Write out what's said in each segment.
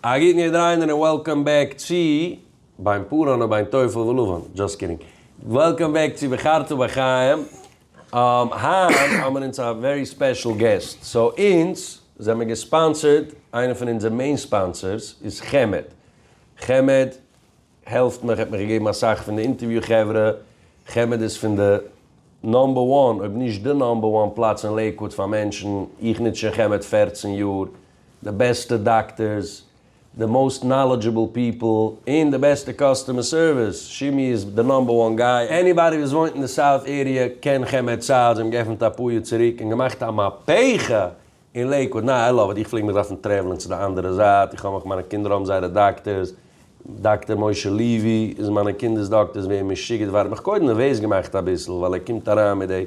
א גוטן אידעראינער און וועלקאם בעק צו בין פאראנען בין טפל ולבן, דזשאסט קידינג, וועלקאם בעק צו בחרת בחיים, היינט האמיר אונז א ווערי ספעשל געסט, סאו אונז זעמיר געספאנסערד, איינער פון אונזער מעין ספאנסערס איז חמד, חמד העלפט מיך, ער האט מיך געגעבן אסאך פון די אינטערוויו חברה, חמד איז פון די נאמבער וואן אויב נישט די נאמבער וואן פלאץ אין לעיקוואד פאר מענטשן, איך נוץ שוין חמד פֿערצן יאר, די בעסטע דאקטערס, די מאוסט נאלעדזשעבל פיפל, און די בעסטע קאסטומער סערוויס, שימי איז די נאמבער וואן גיי, עניבאדי וואס וואוינט אין די סאוט עריע קען חמד סעיד, זיי האבן געפענט א פאר יאר צוריק און געמאכט א מהפכה אין לעיקוואד, ניין איי לאוו איט, איך פלעג מיך דארפן טרעוולען צו די אנדערע זייט, איך האב מיך, מיינע קינדער האבן זייערע דאקטערס, דאקטער משה לעווי איז מיינע קינדערס דאקטער, איז ווער משוגעת ווארט מיך קודם נערוועז געמאכט אביסל ווייל ער קומט אריין מיט דעי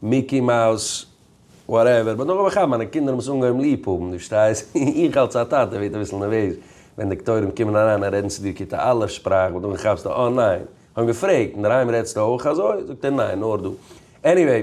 מיקי מאוס וואטעווער, באט נאכדעם האב איך כאפט מיינע קינדער האבן עס אנגעהויבן ליב האבן, דו פארשטייסט, איך אלס א טאטע ווערט אביסל נערוועז ווען דאקטוירים קומען אריין און רעדן צו דיר כיתה א' שפראך באט נאכדעם כאפסטו אה ניין, איך האב אים געפרעגט, אינדערהיים רעדסטו אויך אזוי? זאגט ער ניין נאר דא, עניוועי,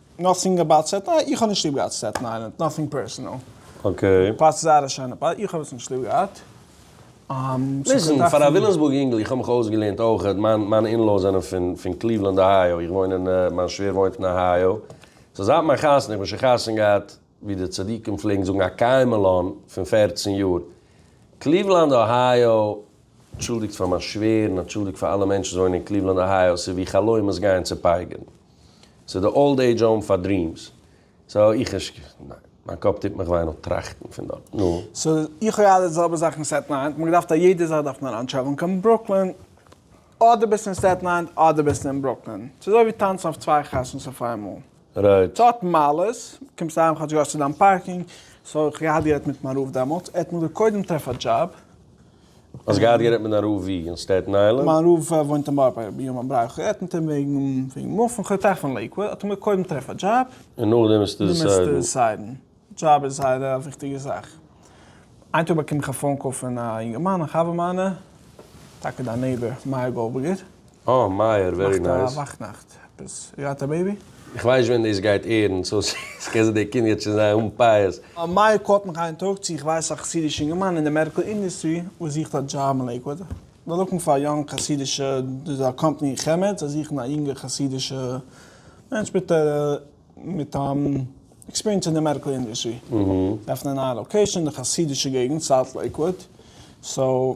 נאטינג אבאוט סטעטן איילענד, איך האב נישט ליב געהאט סטעטן איילענד, נאטינג פערסענעל. אקעי. פלאץ איז זייער א שיינע פלאץ, איך האב עס נישט ליב געהאט. ליסן, פאר א וויליאמסבורג יונגל, איך האב מיך אויסגעלערנט אויכעט, מיין מיינע אינלאס זענען פון פון קליוולענד אהייאו, איך וואוין אין, מיין שווער וואוינט אין אהייאו, סאו זייט מיין חתונה, איך בין שוין חתונה געהאט, ווי די צדיקים פלעגן זאגן א קיימעלאן פון פֿערצן יאר. קליוולאנד אהייאו, אנטשולדיגט פאר מיין שווער, און אנטשולדיגט פאר אלע מענטשן וואס וואוינען אין קליוולאנד אהייאו, ס'איז ווי חלומות גייען צופייגערן. ס'איז די אולד עידזש האום פאר דרימס. סאו איך נישט ק. ניין. מיין קאפ טוט מיך וויי נאר טראכטן פון דארט. נו. סאו איך האב געהאט די זעלבע זאך אין סטעטן איילענד. מ'האט געדארפט א יעדע זאך דארף מען אריינטשעפען קיין ברוקלין. אדער ביסטו אין סטעטן איילענד אדער ביסטו אין ברוקלין. ס'איז אזוי ווי טאנצן אויף צוויי חתונות אויף איינמאל. רייט. ס'האט מעלות. קומסט אהיים כאטש געהאסט צו דיין פארקינג. סאו איך האב געהאט גערעדט מיט מיין רב דעמאלטס. ער האט מיר געזאגט קודם טרעף א דזשאב. האסט געהאט גערעדט מיט דיין רב ווי? אין סטעטן איילענד? מיין רב וואוינט אין בארבערי ביהמ ד, ברויך איך רעדט מיט אים וועגן מופן, כ'האב געטראכט פון לעיקוואד, האט ער מיר קודם טרעף א דזשאב, און נאכדעם וועסטו דעסיידן. דזשאב איז זייער א וויכטיגע זאך, איין טאג באקום איך א פאון קאל פון א יונגערמאן א חבר מיינע, טאקע דיין נעיבער מאיר גאלדבערגער. אה מאיר, ווערי נייס. מאכט א וואך נאכט עפעס. יו גאט א בעיבי? איך ווייס נישט ווען דאס גייט עירן, סאו עס קען זיין די קינד גייט שוין זיין אן פאות. מאיר קאלט מיך איין טאג צו איך ווייס א חסידיש אינגערמאן אין די מעדיקל אינדוסטרי וואס זוכט א דזשאב אין לעיקוואד. זיי לוקן פאר א יונג חסידישע דאס איז א קאמפאני אין חמד זיי זוכן א יונגע חסידישע מענטש מיט מיט עקספיריענס אין די מעדיקל אינדוסטרי. זיי עפענען א נייע לאקעישאן אין די חסידישע געגנט סאוט לעיקוואד סאו.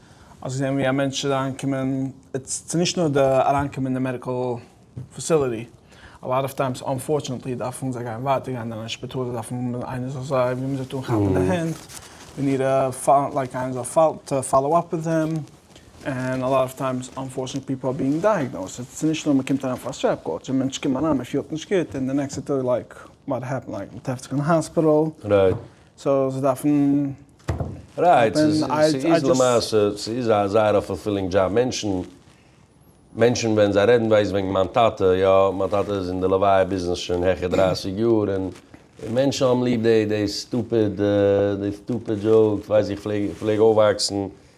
האסט געזען ווי א מענטש איז אריינגעקומען, ס'איז נישט נאר די אריינקומען אין די מעדיקעל פעסיליטי, א לאט אוו טיימס אנפארטשענעטלי דארפן זיי גיין ווייטער גיין אין א שפיטאל, זיי דארפן האבן איינער זאל זיי ווי מ'זאגט אנכאפן די הענט, ווי ניער לייק איינער זאל פאלאו אפ וויט דעם, ענד א לאט אוו טיימס אנפארטשענעטלי פיפל אר בינג דייעגנאוזד, ס'איז נישט נאר מ'קומט אריין פאר א סטרעפ קאלטש און מענטש קומט אריין מ'פילט נישט גוט און די נעקסטע טאג לייק וואט העפענד לייק מ'טרעפט זיך אין האספיטאל. רייט. סאו זיי דארפן רייט, ס'איז ס'איז למעשה ס'איז א זייער א פולפילינג דזשאב, מענטשן מענטשן ווען זיי רעדן ווייסט וועגן מיין טאטע, יא מיין טאטע איז אין די לוויה ביזנעס שוין העכער דרייסיג יאר, און מענטשן האבן ליב די די סטופיד די סטופיד דזשאוקס, ווייסט איך פלעג איך פלעג אויפוואקסן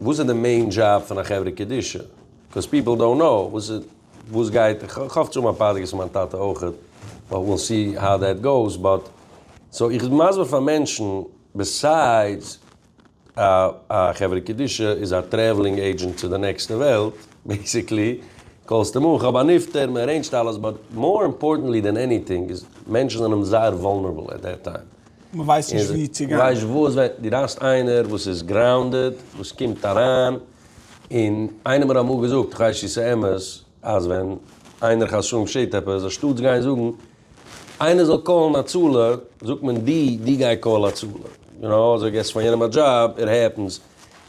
וואס איז די מעין דזשאב פון א חברה קדישא? קאוז פיפל דאונט קנאו וואס איז וואס גייט, איך האף צו האבן א פאדקעסט פון מיין טאטע אויכעט, באט וויל סי האו דעט גאוס, באט סאו איך בין מסביר פאר מענטשן, ביסיידס א א חברה קדישא איז א טרעוולינג עידזשענט צו די נעקסטע וועלט, בעיסיקלי קאלסטו אן, כ'האב א נפטר, מ'ערעינדזשט אלעס, באט מאר אימפארטענטלי דען עניטינג איז מענטשן זענען זייער וואלנערבל עט דעט טיים. מען ווייסט נישט ווי צו גיין. ווייסט וואס ווען דו דארפסט איינער וואס איז גראונדעד וואס קומט אריין און איינער האט אמאל געזאגט כ'ווייס צו ס'איז אמת אז ווען איינער חס ושלום שעהט עפעס אנשטאטס גיין זאגן איינער זאל קאלן הצלה זאגט מען דו דו גיי קאל הצלה יו נאו אזוי געסט פאר יענעם א דזשאב איט העפענס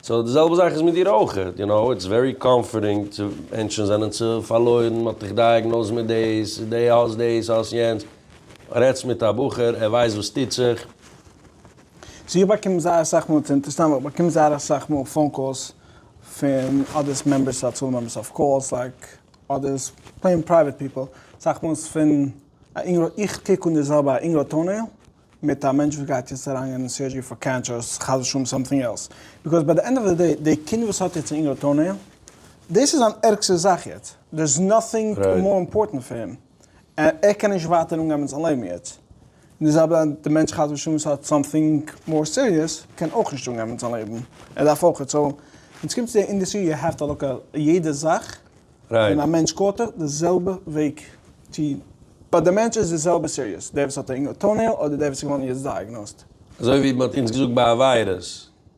סאו די זעלבע זאך איז מיט דיר אויך יו נאו איטס ווערי קאמפארטינג צו מענטשן זענען צו פארלוירן מ'האט דיך דייעגנאוזט מיט דאס דו האסט דאס האסט יענץ. רעדסט מיט א בחור, ער ווייסט וואס טוט זיך. סאו איך באקום זייער אסאך מאל, ס'איז אינטערעסאנט ווייל איך באקום זייער אסאך מאל פאון קאלס פון אדער עס מעמבערס צו הצלה מעמבערס אויף קאלס לייק אדער עס פלעין פרייוועט פיפל, אסאך מאל איז פון א אינגל, איך קוק אן די זעלבע א אינגל טאנעיל מיט א מענטש וואס גייט יעצט אריין גיין אין סורדזשערי פאר קענטשער אויס חס ושלום סאמטינג עלס, ביקאוז ביי די ענד אוו די דעי די קינד וואס האט יעצט א אינגל טאנעיל דאס איז זיין ערגסטע זאך יעצט, דער איז נאטינג מאר אימפארטענט פאר אים. ער קען נישט ווייטער אנגיין מיט זיין לעבן יעצט, און די זעלבע די מענטש חס ושלום וואס האט סאמטינג מאר סיריעס קען אויך נישט אנגיין מיט זיין לעבן, ער דארף אויך, סאו ווען ס'קומט צו די אינדעסטרי יו העוו טו לוק עט יעדע זאך ווען א מענטש קאלט ער די זעלבע וועג צו ביי די מענטש איז די זעלבע סיריעס דער וואס האט א יונגע טאונעיל אדער דער וואס איז געווארן יעצט דייעגנאוזט. אזוי ווי מען האט אונז געזאגט ביי א וויירוס.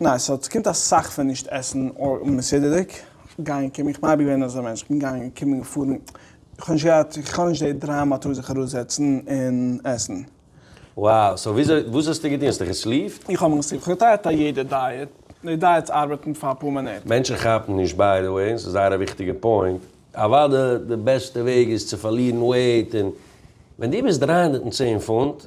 ניין, סא ס'קומט אסאך פון נישט עסן מסודר'דיג, גיין קומען, איך בין אייביג געווען אזא מענטש, כ'בין געגאנגען קומען געפארן, איך האב נישט געהאט, איך האב נישט די דרייו מאטאר זיך ארויסזעצן און עסן. Wow, סא וויאזוי, וואס האסטו געטון, האסטו געסליפט? איך האב מיך געסליפט, כ'האב געטרייט א יעדע דייעט, די דייעטס ארבעטן פאר אפאר מינוט. מענטשן כאפן נישט ביי די וועי, און ס'איז זייער א וויכטיגע פוינט, אוואדע די בעסטע וועג איז צו פארלירן וועיט, און ווען דו ביסט דרײַ הונדערט צען פונט,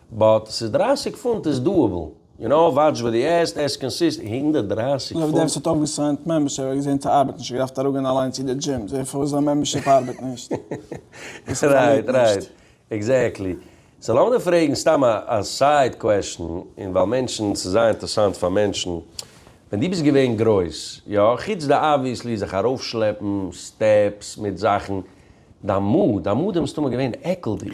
באט ס'איז דרײַסיק פונט איז דאאבעל. יו נאו וואטש וואט די עסט עסט קאנסיסט הונדערט דרײַסיק פונט. לויט דעם ס'האט אויפגעסיינט מעמבערשיפ האב איך געזען ס'ארבעט נישט איך דארף אראפגיין אליינס צו די דזשים זען פארוואס זיין מעמבערשיפ ארבעט נישט און ס'פארלירט נישט. עקזעקטלי. סאו לאמיר פרעגן סתם א סייד קוועשן און ווייל מענטשן ס'איז זייער אינטערסאנט פאר מענטשן. ווען דו ביסט געווען גרויס, יא, חוץ די אבוויעסלי זיך ארויפשלעפן סטעפס מיט זאכן, דיין מאד, דיין מאדים איז מסתמא געווען עקלדיג.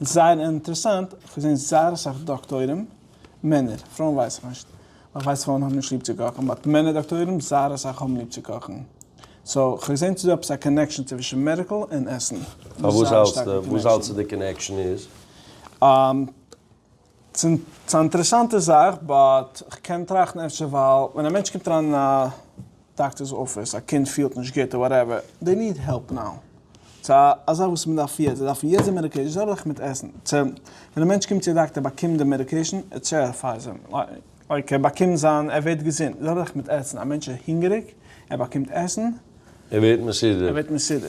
און ס'זייער אינטערעסאנט, איך האב געזען זייער אסאך דאקטוירים, מענער, פרויען ווייס איך נישט, ווייל איך ווייס פרויען האבן נישט ליב צו קאכן, באט מענער דאקטוירים זייער אסאך האבן ליב צו קאכן, סאו כ'האב געזען צו דא עפעס א קאנעקשאן צווישן מעדיקל און עסן. פארוואס האלטסטו? וואס האלטסטו די קאנעקשאן איז? ס'איז א אינטערעסאנטע זאך, באט כ'קען טראכטן אפשר ווייל ווען א מענטש קומט אריין אין א דאקטער'ס אפיס, א קינד פילט נישט גוט אר וואטעווער, דעי ניד העלפ נאו. צו א א זאך וואס מ'דארף יעצט, זיי דארפן יעצט די מעדיקעישן, זיי זארן זיך מיט עסן. צו ווען א מענטש קומט צו א דאקטער באקומט די מעדיקעישן, ער טשעריפייס אים, לייק ער באקומט זיין, ער ווערט געזונט, זיי זארן זיך מיט עסן. א מענטש איז הונגעריג, ער באקומט עסן, ער ווערט מסודר.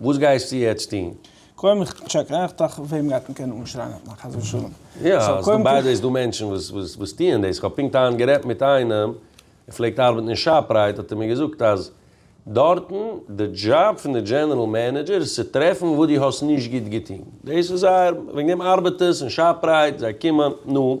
וואס גייסטו יעצט טון? קודם איך טשעק אויך דאך וועם גייט מען קענען אנשרייען אויף מיין חס ושלום. יא, ס'דא ביידע איז דא מענטשן וואס וואס טוען דאס, כ'האב פונקט היינט גערעדט מיט איינעם, ער פלעגט ארבעטן אין שאפרייט האט ער מיר געזאגט אז דארטן די דזשאב פון די דזשענערל מענעדזשער איז צו טרעפן וואס דו האסט נישט גוט געטון, דאס איז זייער, וועגן דעם ארבעטערס אין שאפרייט זיי קומען, נו,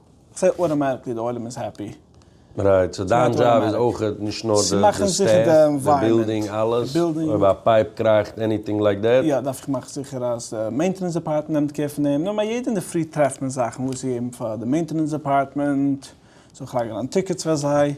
סא אוטאמעטיקלי די עולם איז העפי. רייט, סא דיין דזשאב איז אויך נישט נאר די סטעף, די בילדינג, אלעס, אויב א פייפ קראכט, עניטינג לייק דעט? יא, דארף איך מאכן זיכער אז די מעינטענענס דעפארטמענט נעמט קער פון דעם, נארמאל יעדע אינדערפרי טרעפט מען זאכן וואס צו געבן פאר די מעינטענענס דעפארטמענט, זאל איך לייגן אן טיקעטס פאר זיי.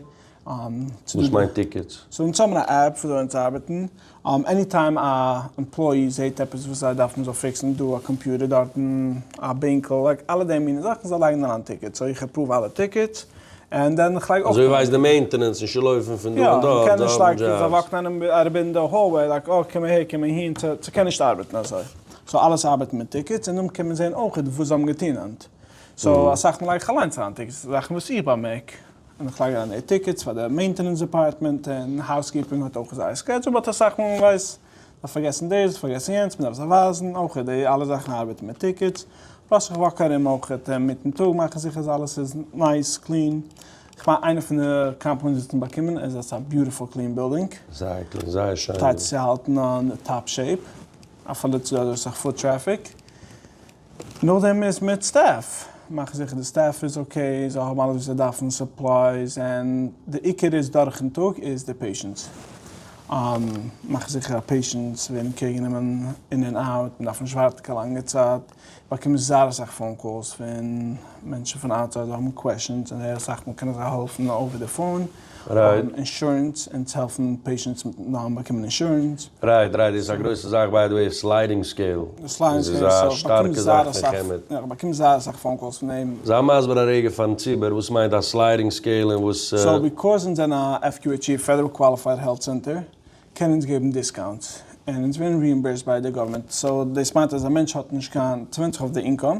וואס מיינט טיקעטס? סאו אונז האבן א עפפ וויאזוי אונז ארבעטן, עני טיים א עמפלאי זעהט עפעס וואס זיי דארפן מ'זאל פיקסן דא א קאמפיוטער דארטן א בענקל לייק אלע די מינע זאכן זיי לייגן אריין טיקעטס סאו איך עפראוו אלע טיקעטס ענד דען איך לייג אויך אזוי ווייסט די מעינטענענס נישט צו לויפן פון דא און דארט זיי האבן דזשאבס. יא, מ'קען נישט לייג זיי וואקן ארום אין די האלוועי לייק אה קום אהער קום אהין ס'קען נישט ארבעטן אזוי סאו אלעס ארבעט מיט טיקעטס און דאן קען מען זעהן אויכעט וואס זיי האבן געטון ענד סאו אסאך מאל לייג איך אליינס אריין טיקעטס זאכן וואס איך באמערק און איך פארגעס אן די טיקעטס פאר די מעינטענענס דעפארטמענט און האוז קיפינג האט אויך זייער סקעדזשול באט אסאך מאל מען ווייסט מ'האט פארגעסן דאס מ'האט פארגעסן יענץ מ'דארף זיי ווייזן אויך די אלע זאכן ארבעטן מיט טיקעטס פלאס איך וואק ארום אויך אינמיטן טאג מאכן זיכער אז אלעס איז נייס קלין איך מיין איינע פון די קאמפלימענטס וואס מ'האט באקומען איז אז ס'איז א ביוטיפול קלין בילדינג. זייער קלין זייער שיין. טייטס צו האלטן אן טאפ שעיפ אפילו צו דא איז אסאך פוט טרעפיק. נאכדעם איז מיט סטעף, מאך זיכער די סטעף איז אקעי, זיי האבן אלעס וואס זיי דארפן, סופלייס, און די עיקר איז דורכן טאג איז די פעישענטס, מאך זיכער אז פעישענטס ווערן קעיר גענומען אין און אוט, מען דארף נישט ווארטן קיין לאנגע צייט, באקומען זייער אסאך פאון קאלס פון מענטשן פון אוטסייד וואס האבן קוועשאנס, און זייער אסאך מאל קענען זיי העלפן אויווער די פאון. רייט. אינשורענס, אונז העלפן פעישענטס מיט נארמאל באקומען אינשורענס. רייט רייט, דאס איז א גרויסע זאך, ביי די וועי איז סליידינג סקעיל, דאס איז א שטארקע זאך פון חמד. יא, כ'באקום זייער אסאך פאון קאלס פון אים. זיי מסביר א רגע פארן ציבור וואס מיינט א סליידינג סקעיל און וואס. סאו ביקאוז אונז זענען א FQHC, פעדעראל קוואליפייד העלט סענטער, קענען אונז געבן דיסקאונטס, און אונז ווערן ריאימבערסד ביי די גאווערמענט, סאו דאס מיינט אז א מענטש האט נישט קיין צוואונג זיך אויף די אינקאם,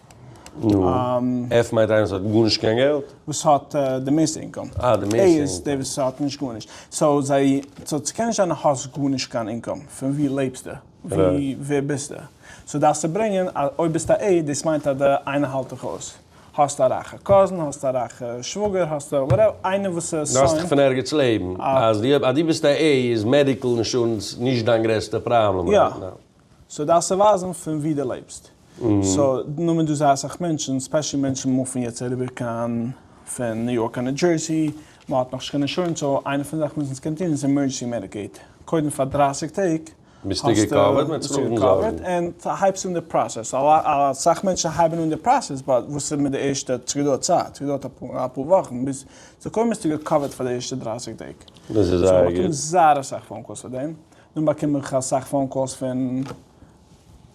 נו, עף מיינט איינער וואס האט גארנישט קיין געלט? וואס האט די מערסטע אינקאם. אה, די מערסטע אינקאם. עי איז דער וואס האט נישט גארנישט. סאו זיי, סאו ס'קען נישט זיין אז האסט גארנישט קיין אינקאם. פון וואו לעבסטו? ווי, ווער ביסטו? סאו דארפסטו ברענגען אז אויב ביסטו א עי, דאס מיינט אז די איינער האלט דיך אויס. האסט א רייכע קאזין, האסט א רייכע שוואגער, האסט א וואטעוו, איינער וואס איז סיין. דארפסט דיך פון ערגעץ לעבן. אז דו ביסט א עי איז מעדיקל אינשורענס נישט דיין גרעסטע פראבלעם רייט נאו. סאו דארפסט צו ווייזן פון ווי דו לעבסט. סאו נאר מען דא זייער אסאך מענטשן, ספעשעלי מענטשן מופן יעצט אריבער קיין פון ניו יארק קיין ניו דזשערסי, מען האט נאכנישט קיין אינשורענס, סאו איינע פון די זאכן וואס אונז קען טון איז עמורדזשענסי מעדיקעיד, קודם פאר דרײַסיק טעג ביסטו געקאווערט און הייבסט אן די פראסעס, אסאך מענטשן הייבן אן די פראסעס באט וואס איז מיט די ערשטע, סגעדויערט צייט, סגעדויערט אפאר וואכן ביז סאו קודם ביסטו געקאווערט פאר די ערשטע דרײַסיק טעג, סאו איך באקום זייער אסאך פאון קאלס פאר דעם, דאן באקום איך אסאך פאון קאלס פון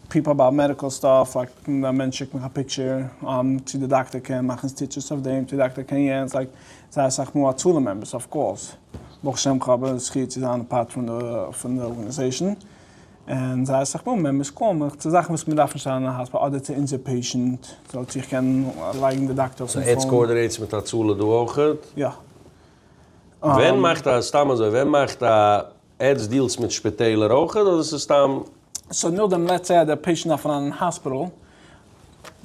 פיפל אבאוט מעדיקל סטאף, לייק ווען א מענטש שיקט מיך א פיקטשער צו די דאקטער קען מאכן סטיטשעס אויף דעם, צו די דאקטער קען יענץ, לייק זייער אסאך מאל הצלה מעמבערס אויף קאלס, ברוך השם איך האב די זכי' צו זיין א פארט פון די ארגענעזעישן, און זייער אסאך מאל מעמבערס קאלן מיך צו זאכן וואס מ'דארף נישט זיין אין א האספיטאל אדער צו אונזער פעישענט, סאו צו איך קען לייגן די דאקטער אויפן פאון. סאו עטס קאארדינעטס מיט הצלה דא אויכעט? יא. ווען מאכט א, סתם אזוי, ווען מאכט א עטס דילטס מיט שפיטעלער אויך אדער ס'איז סתם? סאו נאכדעם לעטס סעי אז דער פעישענט דארף אריין אין האספיטעל,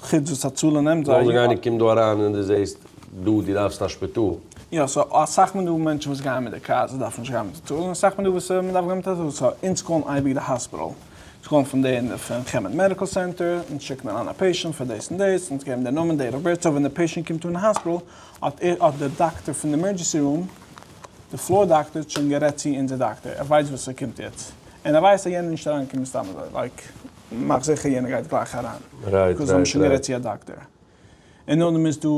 חוץ וואס הצלה נעמט זיי. לאמיר זאגן איינער קומט דא אריין און דו זעסט דא דו דארפסט א שפיטאל. יא סאו אסאך מאל דא מענטשן וואס גייען מיט די קאר זיי דארפן נישט גיין מיט הצלה און אסאך מאל דא וואס מען דארף גיין מיט הצלה סאו אונז קאלן אייביג די האספיטעל אונז קאלן פון די פון חמד מעדיקעל סענטער אונז שיקן אריין א פעישענט פאר דאס און דאס אונז געבן די נאמען דעיט אוו בירט סאו ווען די פעישענט קומט אן אין האספיטעל האט האט די דאקטער פון די עמערדזשענסי רום די פלאר דאקטער האט שוין גערעדט צו אונזער דאקטער, ער ווייסט וואס עס קומט יעצט, און ער ווייסט אז יענער נישט אריינקומען סתם אזוי, לייק מאך זיכער יענער גייט גלייך אריין, ביז זיי האבן שוין גערעדט צו א דאקטער. און נאכדעם איז דא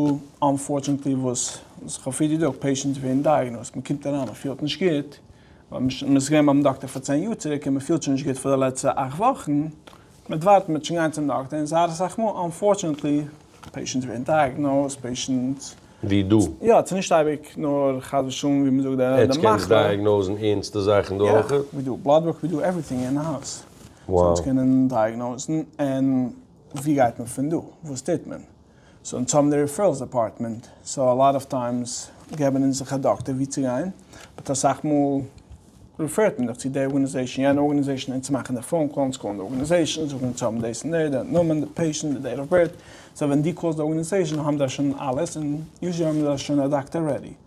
אנפארטשענעטלי וואס וואס איך האב פריער געזאגט, פעישענטס ווערן דייעגנאוזט, מען קומט אריין מען פילט נישט גוט, מען איז געווען ביים דאקטער פאר צען יאר צוריק און מען פילט שוין נישט גוט פאר די לעצטע אכט וואכן, מיט ווארטן מיט נישט גיין צום דאקטער און זייער אסאך מאל אנפארטשענעטלי פעישענטס ווערן דייעגנאוזט פעישענטס ווי דו. יא ס'איז נישט אייביג נאר חס ושלום ווי מ'זאגט די מחלה. עטץ קענטס דייעגנאוזן ערנסטע זאכן דא אויך? יא ווי דא בלאד ווארק ווי דא עווריטינג אין האוז סאו עטץ קענען דייעגנאוזן און ווי גייט מען פון דא וואס טוט מען? סאו אונז האבן די ריפערלס דעפארטמענט, סאו א לאט אוו טיימס געבן אונז זיך א דאקטער ווי צו גיין, באט אסאך מאל ריפערט מען דיך צו די ארגאניזעישן, יענע ארגאניזעישן, אונז מאכן די פאון קאל, אונז קאלן די ארגאניזעישן, זאגן אונז האבן דאס און דאס, די נאמען, די פעישענט, די דעיט אוו בירט, סאו ווען דו קאלסט די ארגאניזעישן האבן זיי שוין אלעס, און יוזשעלי האבן זיי שוין א דאקטער רעדי.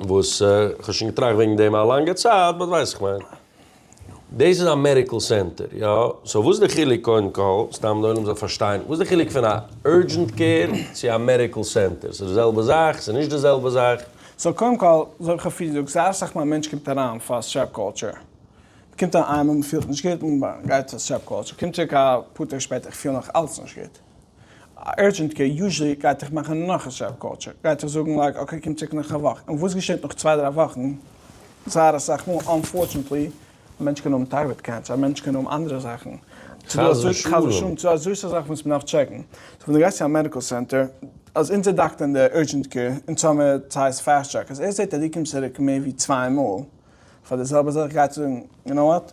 וואס כ'האב שוין געטראכט וועגן דעם א לאנגע צייט באט ווייס כ'מיין דאס איז א מעדיקל סענטער יא סאו וואס די חילוק קודם כל סתם די עולם זאל פארשטיין וואס די חילוק פון א אורדזשענט קעיר צו א מעדיקל סענטער ס'איז די זעלבע זאך ס'איז נישט די זעלבע זאך? סאו קודם כל אזוי ווי כ'האב פריער געזאגט זייער אסאך מאל א מענטש קומט אריין פאר סטרעפ קאלטשער מ'קומט אריין און מ'פילט נישט גוט און מ'גייט פאר סטרעפ קאלטשער קומט צוריק אפאר טעג שפעטער כ'פיל נאך אלץ נישט גוט אורדזשענט קעיר, יוזשעלי גייט דיך מאכן נאך א סעל קולטשער, גייט דיך זאגן לייק אקעי קום צוריק נאך א וואך, און וואס געשעט נאך צוויי דריי וואכן? זייער אסאך מאל אנפארטשענטלי, א מענטש קען האבן טיירויד קענסער, א מענטש קען האבן אנדערע זאכן, ס'דא אזוי, חס ושלום, ס'דא אזוי סאך זאכן וואס מ'דארף טשעקן, סאו ווען דו גייסט צו א מעדיקל סענטער, אז אונזער דאקטער אין די אורדזשענט קעיר, אין סאמער סייז פעסט טרעק, אז ער זעט אז דו קומסט צוריק מער ווי צוויי מאל פאר די זעלבע זאך, גייט ער זאגן, יו נאו וואט?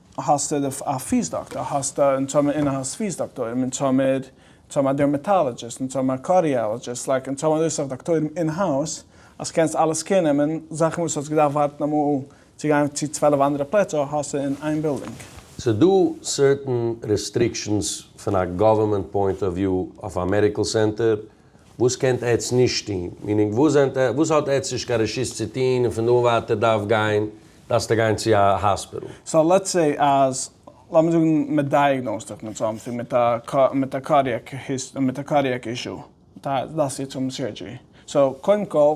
האסט א פיס דאקטאר, האסט א, אונז האבן אין האוז פיס דאקטוירים, אונז האמיר, אונז האבן א דערמעטאלעדזשיסט, אונז האבן א קארדיאלעדזשיסט, לייק אונז האבן אזוי סאך דאקטוירים אין האוז, אז קענסט אלעס קעיר נעמען, זאכן וואס האסט געדארפט ווארטן אמאל צו גיין צו צוועלף אנדערע פלעצער האסטו אין איין בילדינג. ס'איז דא סערטען רעסטריקשענס פון א גאווערמענט פוינט אוו וויו אויף א מעדיקעל סענטער, וואס קענט עטץ נישט טוהן? מיענינג וואס זענט עטץ וואס האט עטץ נישט קיין רשות צו טוהן און פון דא און ווייטער דארף גיין דארפסטו גיין צו א האספיטעל? סא לעטס סעי אז לאמיר זאגן מען דייעגנאוזט דיך מיט סאמטינג מיט א מיט א קארדיעק מיט א קארדיעק אישו דארפסטו האבן סורדזשערי סא קודם כל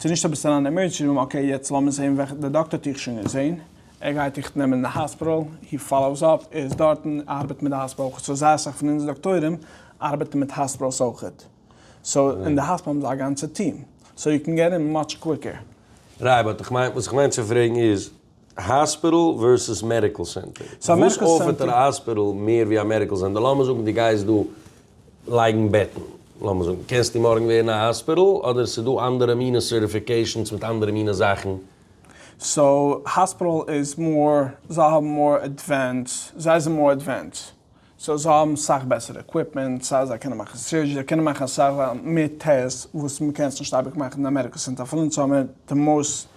ס'איז נישט עפעס אריין עמערדזשענסי רום, אקעי יעצט לאמיר זעהן וועלכע, די דאקטער האט דיך שוין געזעהן, ער גייט דיך נעמען אין די האספיטאל, הי פאלאוס אפ, ער איז דארטן, ער ארבעט מיט די האספיטאל אויכעט, סאו זייער אסאך פון אונז דאקטוירים ארבעטן מיט האספיטאלס אויכעט, סאו אין די האספיטאל האבן זיי א גאנצע טיעם, סאו יו קען געט אין מאטש קוויקער. רייבער, כ'מיין, וואס כ'מיין צו פרעגן איז, האספיטעל ווערסעס מעדיקעל סענטער, וואס אויפערט א האספיטעל מער ווי א מעדיקעל סענטער? לאמיר זאגן דו גייסט דא לייגן בעטן, לאמיר זאגן, קענסטו מארגן ווערן א האספיטעל אדער ס'איז דא אנדערע מינע סערטיפיקעישאנס מיט אנדערע מינע זאכן? סאו האספיטעל איז מאר, זיי האבן מאר עדווענס, זיי זענען מאר עדווענס. סאו זיי האבן סאך בעסערע עקוויפמענט, סא זיי קענען מאכן סורדזשערי, זיי קענען מאכן אסאך מער טעסט וואס מען קען עס נישט אייביג מאכן אין אמעריקא סינט אפילו אונז האבן מיר די מאוסט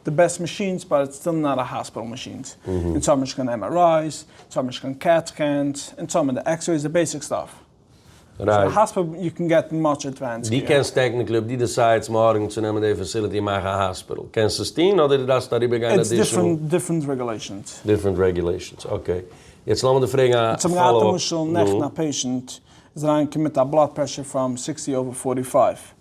די בעסט מאשינס באט איטס סטיל נאט א האספיטעל מאשינס, אונז האבן נישט קיין עם אר אייס, אונז האבן נישט קיין קעט סקענס, אונז האבן די עקס רעיס די בעיסיק סטאף. ר' הספר יו קען געטן מאטש עדווענס קעיר. דו קענסט טעקניקלי אויב דו דעסיידסט מארגן צו נעמען די פעסיליטי מאך א האספיטעל קענסט עס טון אדער דו דארפסט אריבער גיין אדישענעל. איטס דיפרענט דיפרענט רעגולעישענס. דיפרענט רעגולעישענס אקעי יעצט לאמיר דיר פרעגן א פאלאו אפ. אונז האבן געהאט למשל נעכטן א פעישענט איז אריין געקומען מיט א בלאד פרעשור פאם סיקסטי אווער פארטי פייוו.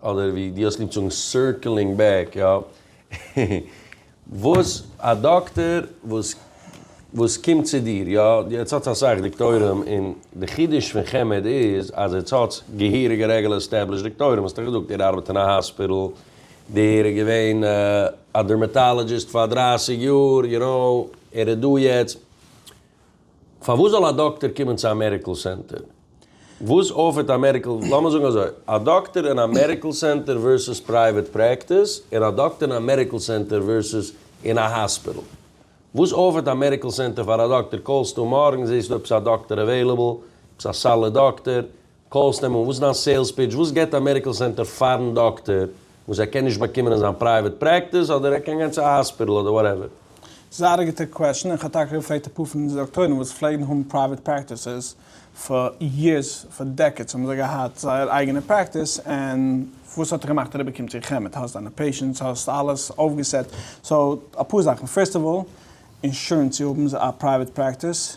אדער ווי דו האסט ליב צו זאגן סירקלינג בעק, יא. וואס א דאקטער וואס וואס קומט צו דיר, יא, יעצט האטס אסאך דאקטוירים און די חידוש פון חמד איז אז יעצט האטס געהעריגע רעגולער עסטעבלישט דאקטוירים, האסט דאך געזאגט ער ארבעט אין א האספיטל, דער איז געווען א דערמעטאלעדזשיסט פאר דרייסיג יאר, יו נאו, ער איז דא יעצט. פארוואס זאל א דאקטער קומען צו א מעדיקל סענטער? וואס אפערט א מעדיקל, לאמיר זאגן אזוי, א דאקטער אין א מעדיקל סענטער ווערסוס פרייוועט פרעקטיס, און א דאקטער אין א מעדיקל סענטער ווערסוס אין א האספיטל. וואס אפערט א מעדיקל סענטער פאר א דאקטער? קאלסטו מארגן, זעסטו אויב ס'איז א דאקטער עוועילעבל, אויב ס'איז א סאליד דאקטער, קאלס נעמען, וואס איז דיין סעילס פיטש, וואס געט א מעדיקל סענטער פארן דאקטער וואס ער קען נישט באקומען אין זיין פרייוועט פרעקטיס, אדער ער קען גיין צו א האספיטעל אדער וואטעווער. זייער א גוטע קוועשן, איך האב טאקע געפרעגט אפאר פון אונזערע דאקטוירים וואס פלעגן האבן פרייוועט פרעקטיסעס פאר יערס, פאר דעקעדס האבן זיי געהאט זייער אייגענע פרעקטיס, און וואס האט ער געמאכט אריבער קומט צו חמד, האסט דיינע פעישענטס, האסט אלעס אויפגעסעט, סאו אפאר זאכן, פירסט אוו אלל, אינשורענס צו האבן א פרייוועט פרעקטיס,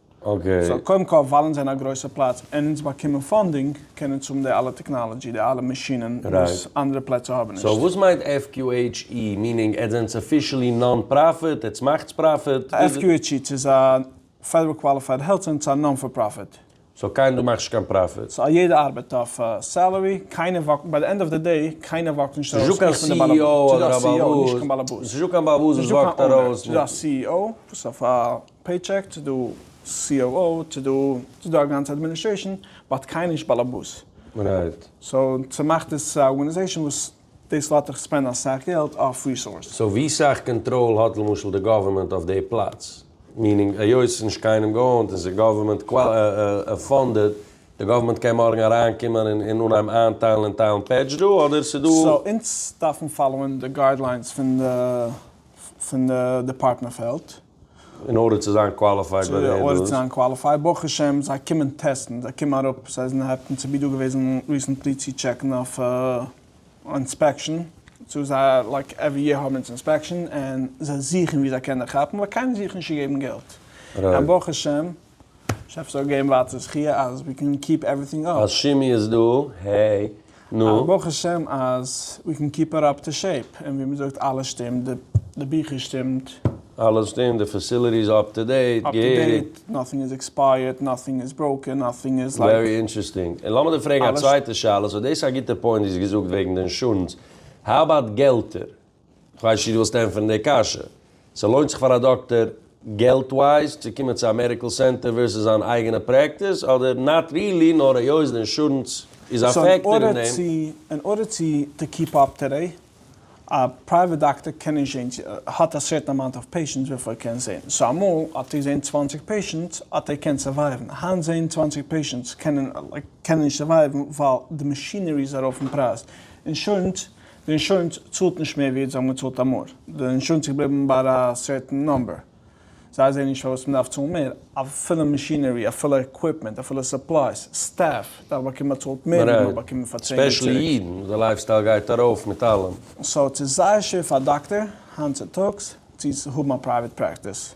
סאו קודם כל וואלן זענען א גרויסע פלאץ און אונז באקומען פאנדינג קען אונז האבן די אלע טעקנאלעדזשי די אלע מאשינען וואס אנדערע פלעצער האבן נישט. סאו וואס מיינט FQHE? מיענינג עטס זענטס אפישעלי נאן פראפיט? עטס מאכטס פראפיט? FQHE צו איז א פעדעראל קוואליפייד העלט סענטער צו א נאן פאר פראפיט? סאו קיינער דא מאכט נישט קיין פראפיט? סאו א יעדער ארבעט אויף סעלערי קיינער וואקט ביי די ענד אוו די דעי קיינער וואקט נישט ארויס איך בין די בעלעבאס סאיז דא א CEO נישט קיין בעלעבאס סאיז דא קיין בעלעבאס וואס וואקט ארויס נישט דא א CEO וואס אויף א פעיטשעק צו דו COO צו דו צו דו א גאנצע אדמיניסטרעישן באט קיינער נישט באלעבאס. רייט. סאו צומאכט עס א ארגענעזעישן וואס דאס לאט דיך ספענדן אסאך געלט אויף ריסארסעס. סאו ווי סאך קאנטראל האט למשל די גאווערמענט אויף די פלאץ? מיענינג היות ס'איז נישט קיינעם געאונט און ס'איז גאווערמענט פאנדעד, די גאווערמענט קען מארגן אריינקומען און און אנהייבן איינטיילן און טיילן פעדזש דא אדער ס'איז דא. סאו אונז דארפן פאלאוען די גיידליינס פון די פון די דעפארטמענט אוו העלט. אין ארדער צו זיין קוואליפייד ביי די אינטערוויוס. אין ארדער צו זיין קוואליפייד, ברוך השם זיי קומען טעסטן, זיי קומען אראפ, סאיז אין העפטען צו בי דא געוועזן ריסענטלי צו טשעקן אויף אינספעקשאן, צו זיי לייק עווערי יער האבן אונז אינספעקשאן, און זיי זוכן ווי זיי קענען כאפן, ווייל קיינער זוכט נישט צו געבן געלט, און ברוך השם. שאפסט אויך געבן ווייטער זכי' אז ווי קען קיעפ עווריטינג אפ. אז שימי איז דא, העי, נו. אז ברוך השם אז ווי קען קיעפ איט אפ טו שעיפ, און ווי מ'זאגט אלעס שטימט, די ביכער שטימט. אלעס שטימט, די פעסיליטי איז אפ טו דעיט, געהעריג. נאטינג איז עקספייערט, נאטינג איז בראוקען, נאטינג איז לייק. ווערי אינטערעסטינג. און לאמיר דיר פרעגן א צווייטע שאלה, סאו דאס איז א גוטע פוינט וואס געזאגט וועגן די אינשורענס, האו אבאוט געלטער? כ'ווייס נישט וואס צו ענטפערן די קשיא. ס'לוינט זיך פאר א דאקטער געלט ווייז צו קומען צו א מעדיקל סענטער ווערסעס זיין אייגענע פרעקטיס אדער נאט רילי נאר היות די אינשורענס איז א פעקטאר אין דעם. אין ארדער צו טו קיעפ אפ טו דעי, א פרייוועט דאקטער קען נישט זעהן צו ער האט א סערטען אמאונט אוו פעישענטס וויפיל ער קען זעהן. סאו אמאל האט ער געזעהן צוואַנציק פעישענטס האט ער געקענט סערווייוון, היינט זעהן צוואַנציק פעישענטס קענען ער קען ער נישט סערווייוון ווייל די מאשינערי איז ארויף אין פרייז. אינשורענס די אינשורענס צאלט נישט מער ווי זיי האבן געצאלט אמאל, די אינשורענס איז געבליבן ביי א סערטען נומבער, זיי זעהן נישט פארוואס מען דארף צאלן מער, אפילו מאשינערי, אפילו עקוויפמענט, אפילו סופלייס, סטעף, דארף באקומען באצאלט מער ווי מען האט באקומען פאר צען יאר צוריק. ספעשעלי אידן וואס די לייף סטייל גייט ארויף מיט אלעם. סאו ס'איז זייער שווער פאר א דאקטער היינט צוטאגס צו האבן א פרייוועט פרעקטיס,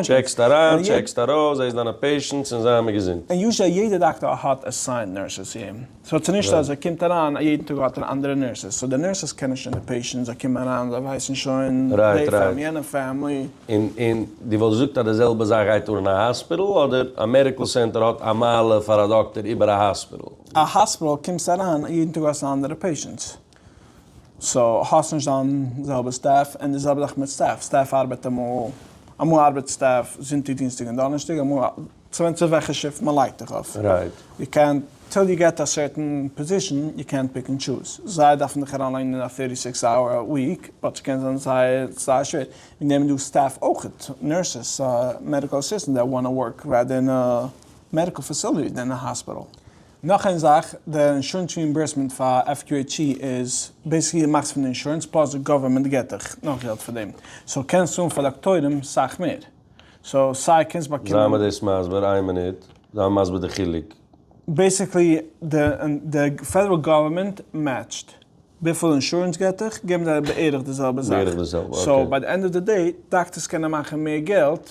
טשעקסט אריין טשעקסט ארויס זעסט דיינע פעישענטס און זיי האבן געזונט. און יוזשעלי יעדע דאקטאר האט עסיינד נורסעס צו אים, סאו ס'נישט אז ער קומט אריין א יעדן טאג האט ער אנדערע נורסעס, סאו די נורסעס קענען שוין די פעישענטס, זיי קומען אריין זיי ווייסן שוין די פעמ יענע פעמלי. און און דו וואלסט געזאגט אז די זעלבע זאך גייט אן אין א האספיטעל? אדער א מעדיקעל סענטער האט א מעלה פאר א דאקטאר איבער א האספיטעל? א האספיטעל קומסט אריין א יעדן טאג האסט אנדערע פעישענטס, סאו האסט נישט דיין זעלבע סטעף, און די זעלבע זאך מיט סטעף, סטעף ארבעט אמאל, אמאל ארבעט סטעף זונטאג דינסטאג און דאנערשטאג, אמאל, ס'ווענדט זיך וועלכע שיפט מען לייגט דיך אויף, יו קענט, טיל יו געט א סערטען פאזישאן, יו קענט פיק ענד טשוז, זיי דארפן דיך אריינלייגן אין א פֿערטי סיקס אווער א וויק, באט ס'קען זיין זייער זייער שווער, און נעמען דא סטעף אויכעט, נורסעס, מעדיקעל אסיסטענט דעט וואנט טו ווארק ראדער אין א מעדיקעל פעסיליטי דען אין א האספיטעל. נאך איין זאך, די אינשורענס ריאימבערסמענט פאר FQHC איז בעיסיקלי די מאכסט פון אינשורענס פלאס די גאווערמענט געט דיך נאך געלט פאר דעם, סאו קענסט צאלן פאר דאקטוירים סאך מער. סאו סיי קענסט זיי באקומען. מיר דאס מסביר איין מינוט, זיי מיר מסביר די חילוק. בעיסיקלי די פעדעראל גאווערמענט מעטשט וויפיל אינשורענס געט דיך געבן זיי בערך די זעלבע זאך, סאו ביי די ענד אוו די דעי דאקטערס קענען מאכן מער געלט.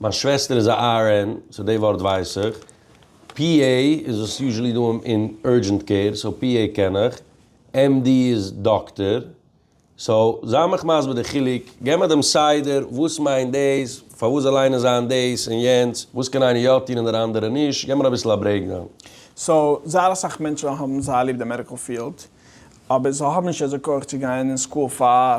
מיין שוועסטער איז א RN, סאו די ווארט ווייס איך. PA איז וואס איז יוזשעלי דא אין אורדזשענט קעיר, סאו PA קען איך. MD איז דאקטער. סאו זיי מיך מסביר די חילוק, געב מיר דעם סדר, וואס מיינט דאס, פארוואס זאל איינער זיין דאס און יענץ, וואס קען איינער יא טון און דער אנדערע נישט, געב מיר אביסל א ברעיקדאון. סאו זייער אסאך מענטשן האבן זייער ליב די מעדיקל פיעלד, אבער זיי האבן נישט אזוי כח צו גיין אין סקול פאר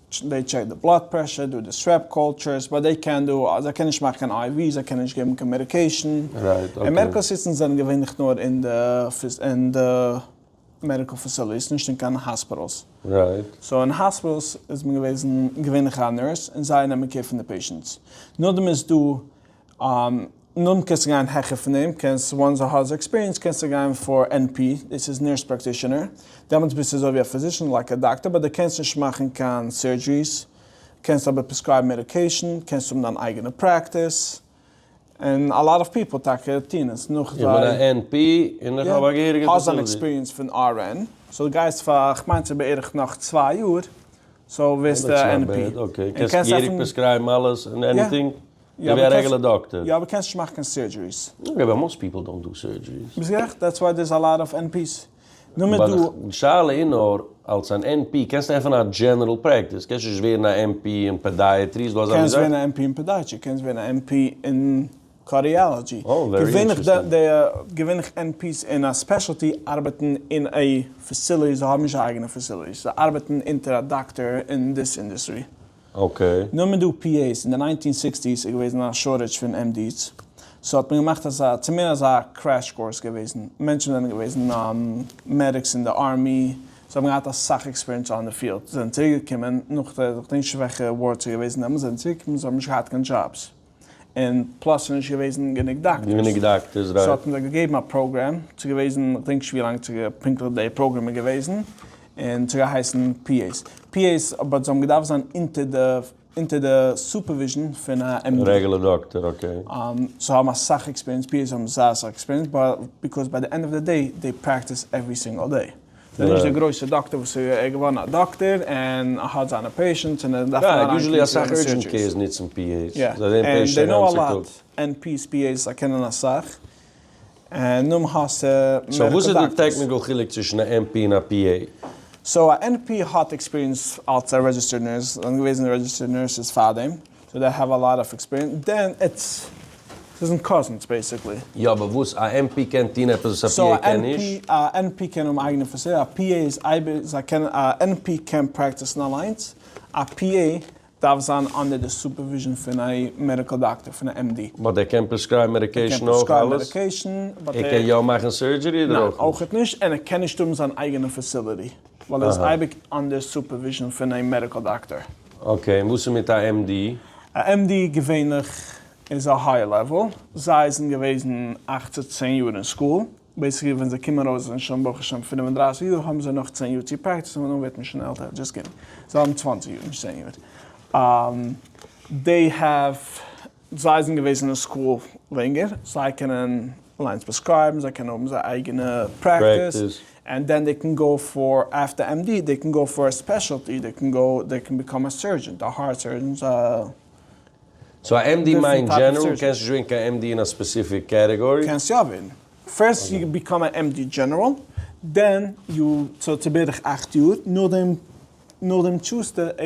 זיי טשעקן די בלאד פרעשור דורך די סוועפ קולטשורס, באט זיי קענען דא, זיי קענען נישט מאכן קיין איי ווי, זיי קענען נישט געבן קיין מעדיקעישן, און מעדיקעל אסיסטענטס זענען געווענליך נאר אין די מעדיקעל פעסיליטיס, נישט אין קיין האספיטעלס, סאו אין האספיטעלס איז מען געוועזן געווענליך א נורס, און זיי נעמען קעיר פון די פעישענטס, נאכדעם איז דא נאנט קענסטו גיין העכער פון דעם, קענסט וואנס די האסט עקספיריענס קענסטו גיין פאר ען פי, דאס איז נורס פראקטישענער, דעמאלטס ביסטו אזוי ווי א פיזישען לייק א דאקטער באט די קענסט נישט מאכן קיין סורדזשריס, קענסט אבער פרעסקרייבן מעדיקעישן, קענסט האבן דיין אייגענע פרעקטיס, און א לאט אוו פיפעל טאקע טוהן עס נאך זיי. איך בין א ען פי און איך האב א געהעריגע פאסיליטי. האסט דיין עקספיריענס פון אר ען, סאו די גייסט פאר כ'מיין ס'איז בערך נאך צוויי יאר, סאו ווערסטו א ען פי. און קענסט עפענען. און קענסט געהעריג פרעסקרייבן אלעס און עניטינג. יא אבער קענסט יא אבער קענסט נישט מאכן קיין סורדזשעריס. יא אבער מאסט פיפל דאנט דא סורדזשעריס. ביסט גערעכט דעטס וויי דערס א לאט אף ען פיס. נו מ'דא. באט די שאלה איז נאר אלס אן ען פי קענסטו עפענען א דזשענערל פרעקטיס קענסט נישט ווערן א ען פי אין פעדייעטרי איז דא אזא מין זאך? קענסט ווערן א ען פי אין פעדייעטרי קענסט ווערן א ען פי אין קארדיאלאדזשי געווענליך די די געווענליך ען פיס אין א ספעשעלטי ארבעטן אין א פעסיליטי זיי האבן נישט א אייגענע פעסיליטי זיי ארבעטן אונטער א דאקטער אין דאס אינדוסטרי. אקעי. נאר מיט דו פי עיס, אין די ניינטין סיקסטיס איז געוועזן א שארטעדזש פון עם די'ס, סאו האט מען געמאכט אזא, צו מער אזא קרעש קורס געוועזן, מענטשן זענען געוועזן מעדיקס אין די ארמי, זיי האבן געהאט אסאך עקספיריענס אן די פיעלד, זיי זענען צוריק געקומען, נאכדעם שוועכע ווארדס איז געוועזן דעמאלטס, זיי זענען צוריק געקומען, זיי האבן נישט געהאט קיין דזשאבס. און פלאס ס'איז נישט געוועזן גענוג דאקטערס. גענוג דאקטערס רייט. סאו האט מען זיי געגעבן א פראגרעם, ס'איז געוועזן, כ'דענק נישט ווילאנג פונקטליך די פראגרעם איז געוועזן, און ס'האט געהייסן PAs. PAs, אבער זיי האבן געדארפט זיין אונטער די סופערוויזשן פון א MD. רעגולער דאקטער, אקעי. זיי האבן אסאך עקספיריענס, PAs האבן זייער אסאך עקספיריענס, ביי, ביקאוז ביי די ענד אוו די דעי, דעי פרעקטיס עווערי סינגעל דעי. ס'איז נישט די גרויסע דאקטער וואס ער איז געווארן א דאקטער און ער האט זיינע פעישענטס און ער דארף אריין קומען צו זיינע סורדזשיס. יוזשעלי אסאך אורדזשענט קעירס נוצן פי עי'ס, זיי זעהן פעישענטס א גאנצע טאג. ענד פי עי'ס פי עי'ס זיי קענען אסאך און נאם האסט מעדיקעל דאקטערס. סאו וואס איז די טעקניקעל חילוק צווישן א ענ פי און א פי עי? סאו א ענ פי האט עקספיריענס אלס א רעדזשיסטערד נורס, זיי זענען געוועזן רעדזשיסטערד נורסעס פארדעם, סאו דעי העוו א לאט אף עקספיריענס דען איטס זיי זענען קאזינס בעיסיקלי. יא אבער וואס? א עמ פי קען טוהן עפעס וואס א פי עי קען נישט? א ענ פי קען האבן אייגענע פאסיליטיס, א פי עי איז אייביג, זיי קענען, א ענ פי קען פרעקטיסן אליינס, א פי עי דארף זיין אנדער די סופערוויזשן פון א מעדיקל דאקטער, פון א עמ די. באט ער קען פרעסקרייבן מעדיקעישן אויך אלעס? ער קען יא מאכן סורדזשערי אדער אויך נישט? ניין, אויכעט נישט, און ער קען נישט האבן זיין אייגענע פאסיליטי. ווייל ער איז אייביג אנדער סופערוויזשן פון א מעדיקל דאקטאר. אקעי, און וואס איז מיט א MD? א MD געווענליך איז א הייער לעוועל, זיי זענען געוועזן אַכט צו צען יאר אין סקול, בעיסיקלי ווען זיי קומען ארויס זענען שוין ברוך השם פֿינף און דרײַסיק יאר האבן זיי נאך צען יאר צו פרעקטיסן און דאן ווערט מען שוין עלטער, דזשאסט קידינג, זיי האבן צוואַנציק יאר נישט צען יאר. דעי העוו. זיי זענען געוועזן אין סקול לענגער, זיי קענען אליינס פרעסקרייבן, זיי קענען האבן זייער אייגענע פרעקטיס, ענד דען זיי קען גאו פאר עפטער עם די, זיי קען גאו פאר א ספעשעלטי, זיי קען גאו, זיי קען ביקאם א סורדזשענט, א הארט סורדזשענט, א. סאו א עם די מיינט דזשענעראל, קענסט נישט ווערן קיין עם די אין א ספעסיפיק קעטעגארי? קענסט יא ווערן. פירסט יו ביקאם א עם די דזשענעראל, דען יו, סאו ס'איז בערך אכט יאר, נאכדעם, נאכדעם טשוזטו א.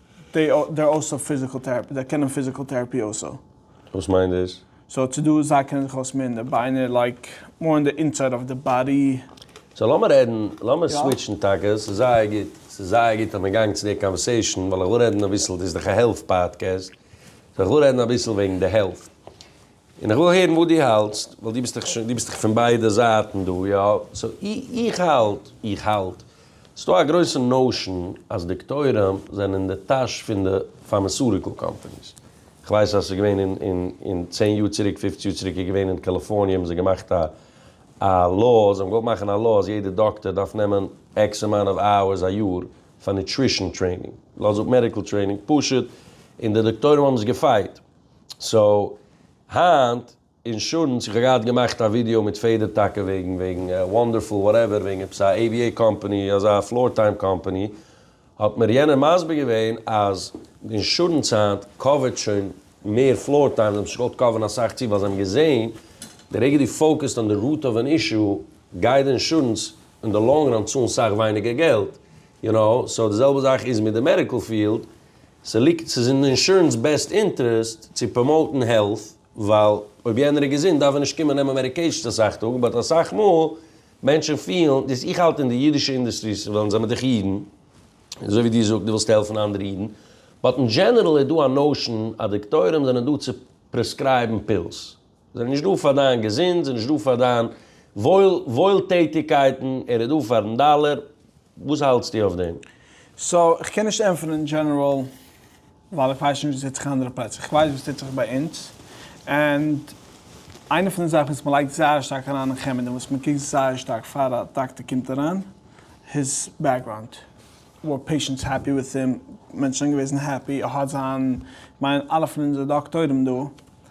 דעי אר אלסא פיזיקעל טעראפי, זיי קענען פיזיקעל טעראפי אלסא. וואס מיינט דאס? סאו צו דא זיי קענען זיך אויס מער אין די ביינער לייק מאר אין די אינסייד אוו די באדי. סאו לאמיר רעדן, לאמיר סוויטשן טאקע, ס'איז זייער גוט, ס'איז זייער גוט אז מען גאנג צו די קאנווערסעישן, ווייל איך וויל רעדן אביסל, דאס איז דאך א העלט פאדקעסט, סאו איך וויל רעדן אביסל וועגן די העלט, און איך וויל הערן וואס דו האלטסט, ווייל דו ביסט דאך שוין, דו ביסט דאך פון ביידע זייטן דא, יא? סאו איך האלט, איך האלט, ס'איז דא א גרויסע נאושען אז דאקטוירים זענען אין די טאש פון די פארמעסוטיקל קאמפעניס. איך ווייס אז ס'איז געווען אין, אין, אין צען יאר צוריק, פופצן יאר צוריק איז געווען אין קאליפארניע האבן זיי געמאכט א, א law, זיי האבן געוואלט מאכן א law אז יעדע דאקטער דארף נעמען עקס אמאונט אוו אווערס א יאר פאר נוטרישאן טרעינינג, לאז אפ מעדיקל טרעינינג, פשוט, און די דאקטוירים האבן עס געפייט. סאו היינט אינשורענס, איך האב געהאט געמאכט א ווידיאו מיט פעדער טאקע וועגן וועגן וואנדערפול וואטעווער וועגן עפעס א עיוויעי קאמפעני אזא פלאר טיים קאמפעני, האט מיר יענער מסביר געווען אז די אינשורענס היינט קאווערט שוין מער פלאר טיים, זיי האבן זיך נישט געוואלט קאווערן אסאך צו ווייל זיי האבן געזעהן די רגע דו פאוקעסט אן די רוט אוו ען אישו גייט די אינשורענס און די לאנג ראן צאלן סאך ווייניגער געלט, יו נאו, סאו די זעלבע זאך איז מיט די מעדיקעל פיעלד, ס'ליגט ס'איז אין די אינשורענס בעסט אינטערעסט צו פראמאוטן העלט ווייל אויב יענער איז געזונט דארף ער נישט קומען נעמען מעדיקעישאנס אסאך טאג באט אסאך מאל מענטשן פילן דאס איך האלט אין די אידישע אינדוסטרי ס'איז ווילן זיי מיט דיך אידן אזוי ווי דו זאגט דו ווילסט העלפן אנדערע אידן באט אין דזשענערל איז דא א נאושען אז דאקטוירים זענען דא צו פרעסקרייבן פילס. זיי נישט דא פאר דיין געזונט, זיי נישט דא פאר דיין וואויל וואוילטעטיגקייטן, ער איז דא פארן דאלער, וואס האלטסטו אויף דעם? סאו איך קען נישט ענטפערן אין דזשענעראל ווייל איך ווייס נישט וואס טוט זיך אין אנדערע פלעצער, איך ווייס וואס טוט זיך ביי אונז, ענד איינע פון די זאכן וואס מען לייגט זייער שטארק אריין אין חמד און וואס מען קוקט זייער שטארק פאר א דאקטער קומט אריין, היז בעקגראונד, ווער פעישענטס העפי וויט הים, מענטשן זענען געוועזן העפי, ער האט זיין, כ'מיין אלע פון אונזערע דאקטוירים דא,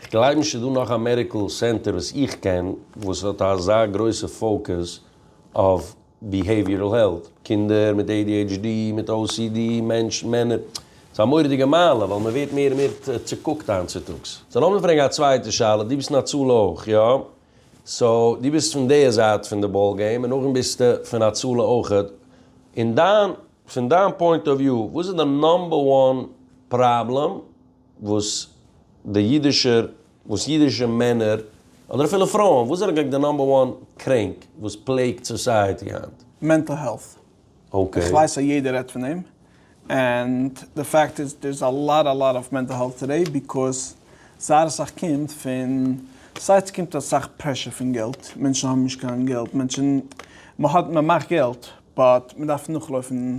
כ'גלייב נישט ס'איז דא נאך א מעדיקל סענטער וואס איך קען וואס האט אזא גרויסע פאוקעס אויף ביהעיוויערל העלט, קינדער מיט adhd, מיט ocd, מענטשן, מענער. ס'איז א מורא'דיגע מעלה ווייל מ'ווערט מער און מער צוקוקט היינט צוטאגס. סאו לאמיר פרעגן א צווייטע שאלה, דו ביסט אין הצלה אויך, יא? סאו דו ביסט פון די זייט פון די באל געים און נאכדעם ביסטו פון הצלה אויכעט, אין דיין פון דיין פוינט אוו וויו וואס איז די נאמבער וואן פראבלעם? וואס די אידישער, וואס אידישע מענער, אדער אפילו פרויען, וואס זענען געג די נאמבער וואן קרענק וואס פלעגט סאסייעטי היינט? מענטל העלט. אקעי. איך ווייס אז יעדער רעדט פון דעם, ענד די פאקט איז דער איז א לאט א לאט אף מענטל העלט טודעי ביקאוז זייער אסאך קומט פון, סיי ס'קומט אסאך פרעשור פון געלט, מענטשן האבן נישט קיין געלט, מענטשן, מ'האט, מ'מאכט געלט, באט מ'דארף נאכלויפן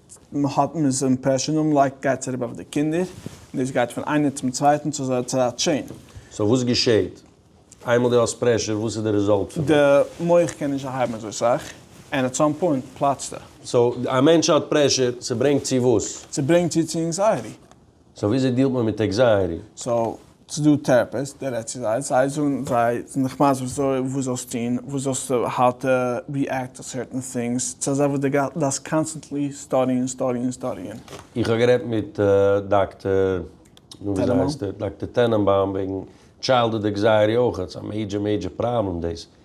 מען האט מען איז אימפרעשען און לייק גייט צוריב אויף די קינדער און דאס גייט פון איינער צום צווייטען צו אזא צייט טשעין. סאו וואס געשעהט איינמאל די האסט פרעשור וואס איז די ריזאלט פון דעם? די מח קען נישט אנהייבן אזוי סאך ענד אט סאם פוינט פלאצט ער. סאו א מענטש האט פרעשור ס'ברענגט צו וואס? ס'ברענגט צו צו ענקזייעטי. סאו וויאזוי דיעלט מען מיט עקזייעטי? סאו ס'איז דא טעראפיסט, דו רעדסט צו זיי, זיי זאגן זיי זענען דיך מסביר וואס זאלסט טון, וואס זאלסטו האו טו ריעקט טו סערטען טינגס, ס'איז אזא וואס דו דארפסט קאנסטענטלי סטאדיען סטאדיען סטאדיען. איך האב גערעדט מיט דאקטער, נו וויאזוי הייסט ער, דאקטער טענענבאום וועגן טשיילדהוד עקזייעטי אויך, ס'איז א מעידזשער מעידזשער פראבלעם דאס,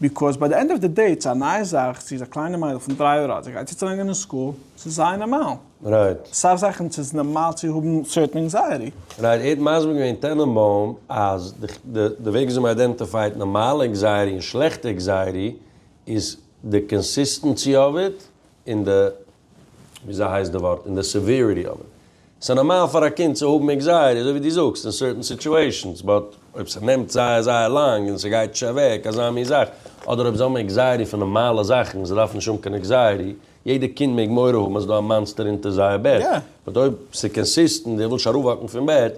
ביקאוז ביי די ענד אוו די דעי איטס א נייע זאך, זי איז א קליינע מיידל פון דרײַ יאר אלט, זי גייט צו צולערנען אין סקול, ס'איז זייער נארמאל. רייט. סאך זאכן ס'איז נארמאל צו האבן סערטען ענקזייעטי. רייט, ער האט מסביר געווען טענענבוים אז די וועג וויאזוי מ'איידענטיפייט נארמאלע ענקזייעטי און שלעכטע ענקזייעטי איז די קאנסיסטענסי אוו איט און די וויאזוי הייסט די ווארט? אין די סעוועריטי אוו איט. ס'איז נארמאל פאר א קינד צו האבן עקזייעטי אזוי ווי דו זאגסט אין סערטען סיטואשענס, באט אויב ס'נעמט זייער זייער לאנג און ס'גייט נישט אוועק אזא מין זאך, אדער אויב זיי האבן עקזייעטי פון נארמאלע זאכן און זיי דארפן נישט האבן קיין עקזייעטי, יעדע קינד מעג מורא האבן אז ס'איז דא א מאנסטער אונטער זייער בעט, באט אויב ס'איז קאנסיסטענט און ער וויל נישט אראפוואקן פון בעט,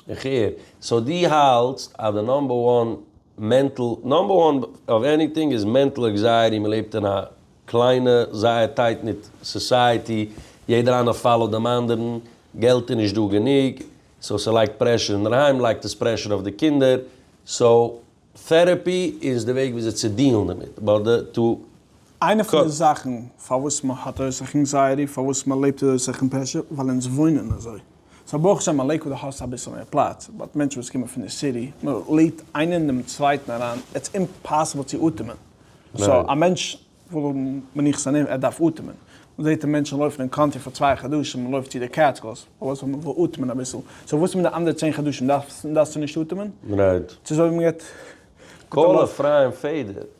איך הער. סאו דו האלטסט אז די נאמבער וואן מענטל נאמבער וואן אוו עניטינג איז מענטל עקזייעטי, מ'לעבט אין א קליינע, זייער טייט ניט סאסייעטי, יעדער איינער פאלאוט דעם אנדערן, געלט איז נישט דא גענוג, סאו ס'לייגט פרעשור אינדערהיים, לייגט עס פרעשור אויף די קינדער, סאו טערעפי איז די וועג וויאזוי צו דיעלן דערמיט, באט די טו איינע פון די זאכן פארוואס מען האט אויסאכן ענקזייעטי, פארוואס מען לעבט אויסאכן פרעשור, ווייל אונז וואוינען אזוי. סאו ברוך השם אין לעיקוואד האסטו אביסל מער פלאץ, באט מענטשן וואס קומען פון די סיטי, מען לעבט איינער אין דעם צווייטן אריין, איטס אימפאסיבל צו אטעמען, סאו א מענטש וויל האבן מנוחת ענים, ער דארף אטעמען, מען זעט די מענטשן לויפן אין קאנטרי פאר צוויי חדשים, מען לויפט צו די קעטסקילס, פארוואס? ווייל מען וויל אטעמען אביסל, סאו וואס איז מיט די אנדערע צען חדשים, דארפסטו נישט אטעמען? ס'איז אזוי ווי מען געט. קול אפרים פעדער.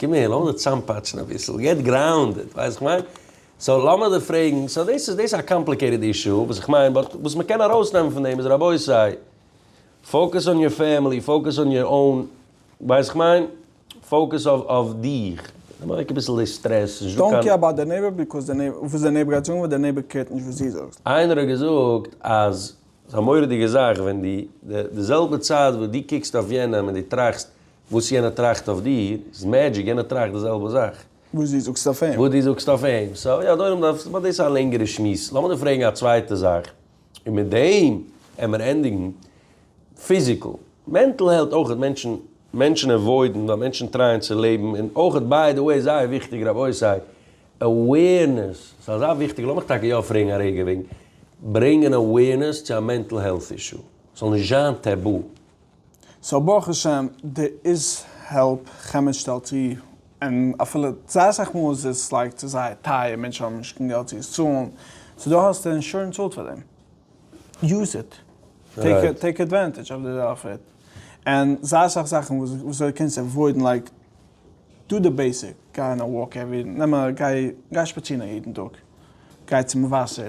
קום אהער לאמיר זיך צוזאמפאטשן אביסל, געט גראונדעד, ווייסט וואס איך מיין? סאו לאמיר דיר פרעגן, סאו דאס איז דאס איז א קאמפליקעיטעד אישו, וואס איך מיין, באט וואס מען קען ארויסנעמען פון דעם איז רבותי, פאוקעס אן יור פעמילי, פאוקעס אן יור און, ווייסט וואס איך מיין? פאוקעס אויף אויף דיך, נעם אוועק אביסל די סטרעס, נישט דא קיין. איינער האט געזאגט אז ס'איז א מורא'דיגע זאך ווען די די זעלבע צייט וואס די קוקסט אויף יענעם און די טראכסט וואס יענער טראכט אויף דיר איז מעדזשיק, יענער טראכט די זעלבע זאך. וואס דו זאגסט אויף אים. וואס דו זאגסט אויף אים. סא יא, אדוני דאס איז באלד א לענגערע שמועס. לאמיר דיר פרעגן א צווייטע זאך, און מיט דעם עמער ענדיגן. פיזיקל, מענטל העלט אויך מענטשן, מענטשן עוואוידן ווייל מענטשן טרייען צו לעבן, און אויך ביי די וועי זייער וויכטיג רבותי, עווערנעס, ס'איז אזא וויכטיגע, לאמיך טאקע יא פרעגן א רגע וועגן ברענגען עווערנעס צו א מענטל העלט אישו, ס'זאל נישט זיין טעבו. סאו ברוך השם דער איז העלפ חמד שטעלט צו און אפילו זייער אסאך מאל איז עס לייק צו זייער טייער מענטשן האבן נישט קיין געלט צו עס צאלן סאו דא האסטו אינשורענס צאלט פאר דעם יוז איט טעיק עדווענטעדזש אויף די אויף איט און זייער אסאך זאכן וואס וויאזוי קענסט עוואוידן לייק דא די בעיסיק גיי און א וואלק עווערי נעם א גיי שפאצירן א יעדן טאג גיי צום וואסער.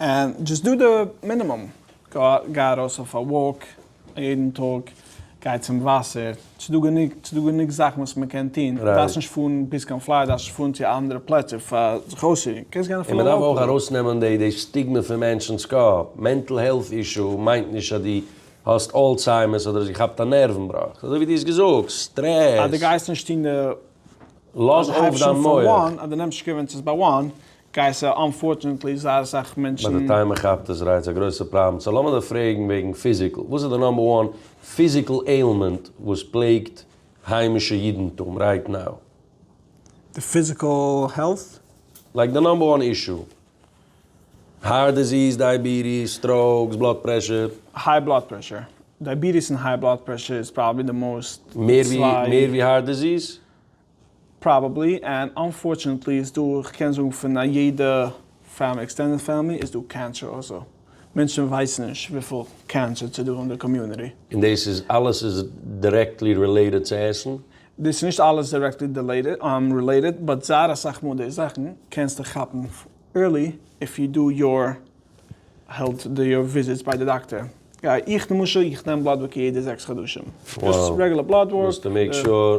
ענד דזשאסט דא די מינימום, גיי ארויס אויף א וואלק יעדן טאג, גיי צום וואסער, ס'איז דא גענוג, ס'איז דא גענוג זאכן וואס מען קען טון, דו דארפסט נישט פארן ביז קיין פלארידע, דארפסט נישט פארן צו אנדערע פלעצער פאר זיך אויסצורוען, קענסט גיין אפילו לאקאל. און מען דארף אויך ארויסנעמען די די סטיגמע פון מענטשנ'ס קאפ, מענטל העלט אישו מיינט נישט אז דו האסט אלצהיימערס אדער האסט געכאפט א נערוון בראך, אזוי ווי דו האסט געזאגט, אז דו סטרעס. גייסט נישט טון די. לאז אויף דיין מח. אז דו נעמסט שווערן צו עס באוואן, גייסט זיי אנפארטשענעטלי זייער אסאך מענטשן. ביי די טיימער כאפט עס רייץ א גרויסע פראבלעם סא לאמיר דיר פרעגן וועגן פיזיקל וואס איז די נאמבער וואן פיזיקל עילמענט וואס פלעגט היימישע אידנטום רייט נאו? די פיזיקל העלט? לייק די נאמבער וואן אישו? הארט דיזיס, דייעביטיס, סטראוקס, בלאד פרעשור? היי בלאד פרעשור, דייעביטיס און היי בלאד פרעשור איז פראבעבלי די מאוסט די צוויי. מער ווי הארט דיזיס? פראבעבלי, ענד אנפארטשענעטלי איז דא, איך קען זאגן פון א יעדע פעמילי, עקסטענדעד פעמילי, איז דא קענסער אויסער. מענטשן ווייסן נישט וויפיל קענסער ס'דא אין די קאמיוניטי. און דאס איז אלעס איז דירעקטלי רילעיטעד צו עסן? דאס איז נישט אלעס דירעקטלי רילעיטעד, באט זייער אסאך מאל די זאכן קענסטו כאפן ערלי איף יו דו יור העלט יור וויזיטס ביי די דאקטער. איך למשל, איך נעם בלאד ווארק יעדע זעקס חדשים. זשאסט רעגולער בלאד ווארק. מוזטו מעיק שור.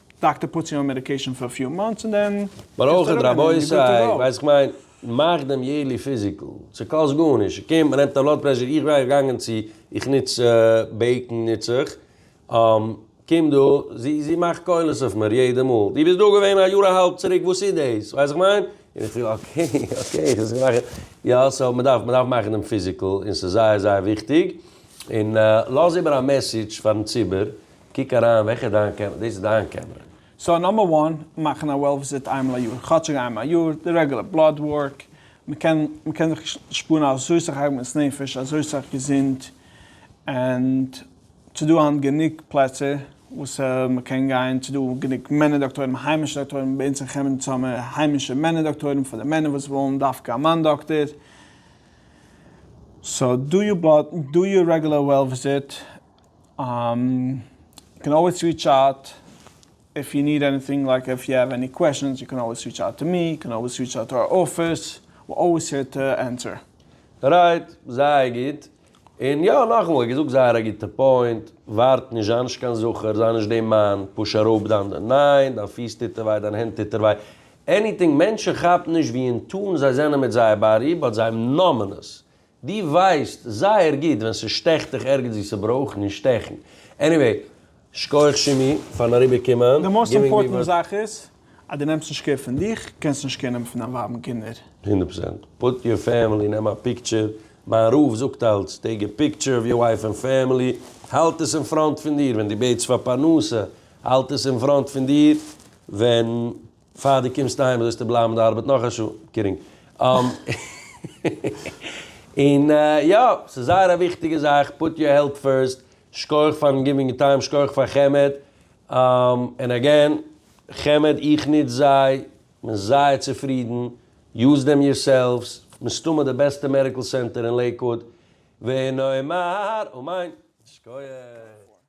דאקטער פוטס יו אן מעדיקעישאן פאר פיו מאנטס און דען ברויך ער רבותי ווייס איך מיין מאך דעם יערלי פיזיקל ס'קאסט גארנישט ס'קומט מ'נעמט א בלאד פרעשור איך ווייל איך געגאנגען צו איך נוץ בעיקן נוץ איך קום דא זי זי מאכט קולות אויף מיר יעדע מאל דו ביסט דא געווען א יאר א האלב צוריק וואס איז דאס ווייס איך מיין און איך זאג אקעי אקעי איך זיך געמאכט יא סאו מ'דארף מ'דארף מאכן דעם פיזיקל און ס'איז זייער זייער וויכטיג און לאז איבער א מעסעדזש פארן ציבור קוק אריין וועלכע איז דיין קעמרע, דאס איז דיין קעמרע. סאו נאמבער וואן, מאכן א וועל וויזיט איינמאל א יאר, כאטשיג איינמאל א יאר, די רעגולער בלאד ווארק, מ'קען מ'קען זיך שפארן אזוי סאך עגמת נפש, אזוי סאך געזונט, ענד ס'דא היינט גענוג פלעצער וואס מ'קען גיין, ס'דא גענוג מענער דאקטוירים, היימישע דאקטוירים, ביי אונז אין חמד האבן מיר היימישע מענער דאקטוירים פאר די מענער וואס ווילן דווקא א מאן דאקטער, סאו דא יור בלאד, דא יור רעגולער וועל וויזיט, יו קען אלוועיס ריטש אוט איף יו ניד עניטינג לייק איף יו העוו עני קוועשאנס יו קען אלוועיס ריטש אוט טו מי יו קען אלוועיס ריטש אוט טו אווער אפיס וויל אלוועיס הער טו ענטער. רייט, זייער גוט. און יא, נאכאמאל, געזאגט זייער א גוטע פוינט, ווארט נישט, זיי נישט קיין זכר, זיי נישט דעם מאן, פוש אראפ דיין דיין, ניין, דיין פיס טוט דיר וויי, דיין הענט טוט דיר וויי, עניטינג, מענטשן כאפן נישט ווי אין טון זיי זענען מיט זייער באדי, באט זיי נאמען עס, די ווייסט זייער גוט ווען ס'שטעכט דיך ערגעץ ווי ס'ברויך נישט שטעכן. עניוועי, שקויעך שימי פארן אריבער קומען. די מאסט אימפארטענט זאך איז אז די נעמסט נישט קער פון דיך, קענסט נישט קער נעמען פון דיין ווייב און קינדער. הונדערט פראצענט. פוט יור פעמילי, נעם א פיקטשער, מיין רב זאגט אלץ, טעיק א פיקטשער אוו יור ווייף ענד פעמילי, האלט עס אין פראנט פון דיר ווען די בעטסט פאר פרנסה, האלט עס אין פראנט פון דיר ווען. פאר די קומסט אהיים זאלסטו בלייבן אין די ארבעט נאך א שעה. קידינג. און יא, ס'איז זייער א וויכטיגע זאך, פוט יור העלט פירסט, שקויעך פארן גיווינג טיים, שקויעך פאר חמד, און אגעין, חמד איך נוץ זיי, כ'בין זייער צופרידן, יוז דעם יור סעלווס, מסתמא די בעסטע מעדיקל סענטער אין לעיקוואוד, ונאמר אמן. שקויעך.